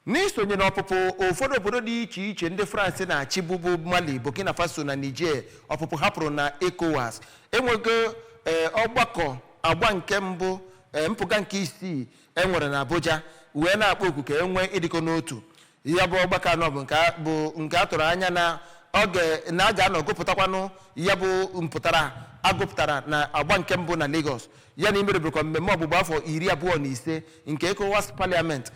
N'isonye n'ọpụpụ ụfọdụ obodo dị iche iche ndị France na-achịbu bụ Mali, Burkina Faso na Niger ọpụpụ ha pụrụ na Ecowas enwego ee ọgbakọ agba nke mbụ ee mpụga nke isii e nwere na Abuja wee na-akpọ oku ka e nwee ịdịkọ n'otu. Ya bụ ọgbakọ a nọ bụ nke a- bụ nke a tụrụ anya na ọ ga- na a ga-anọ gụpụtakwanụ ya bụ mpụtara a gụpụtara na agba nke mbụ na Lagos ya na imerubekwa mmemme ọgbụgba afọ iri abụọ na ise nke ECOWAS Parliament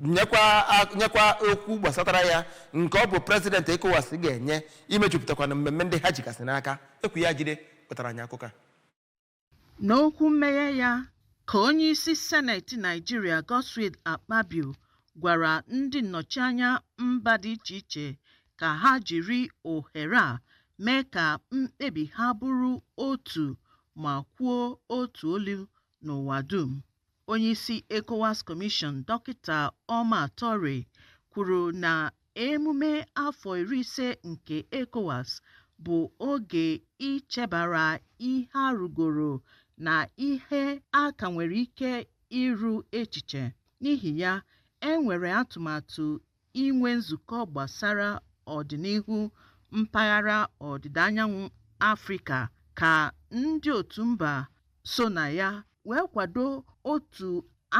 nyekwa a- nyekwa okwu gbasatara ya nke ọ bụ president ECOWAS ga-enye imejupụtakwanụ mmemme ndị ha jigasị n'aka. Ekwi Ajide kpọtara anyị akụkọ a. N'okwu mmeghe ya ka onye isi seneti Naijiria Godswill Akpabio gwara ndị nnọchianya mba dị iche iche ka ha jiri ohere a mee ka mkpebi ha bụrụ otu ma kwuo otu olu n'ụwa dum. Onyeisi ECOWAS Commission Dọkịta Omar Touray kwuru na emume afọ iri ise nke ECOWAS bụ oge ichebara ihe a rụgoro na ihe a ka nwere ike ịrụ echiche. N'ihi ya, e nwere atụmatụ inwe nzukọ gbasara ọdịnihu mpaghara ọdịda anyanwụ Afrịka ka ndị otu mba so na ya wee kwado otu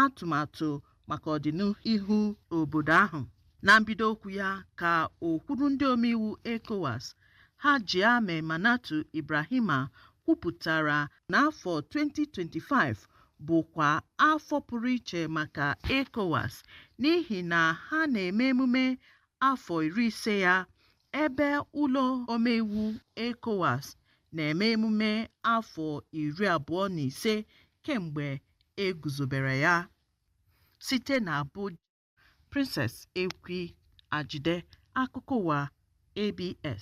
atụmatụ maka ọdịnihu obodo ahụ. Na mbido okwu ya ka okwuru ndị omeiwu ECOWAS Hajia Memounatou Ibrahima kwupụtara na afọ 2025 bụkwa afọ pụrụ iche maka ECOWAS n'ihi na ha na-eme emume afọ iri ise ya, ebe ụlọ omeiwu ECOWAS na-eme emume afọ iri abụọ na ise kemgbe e guzobere ya. Site n'Abuja, Princess Ekwi Ajide, akụkọ ụwa ABS.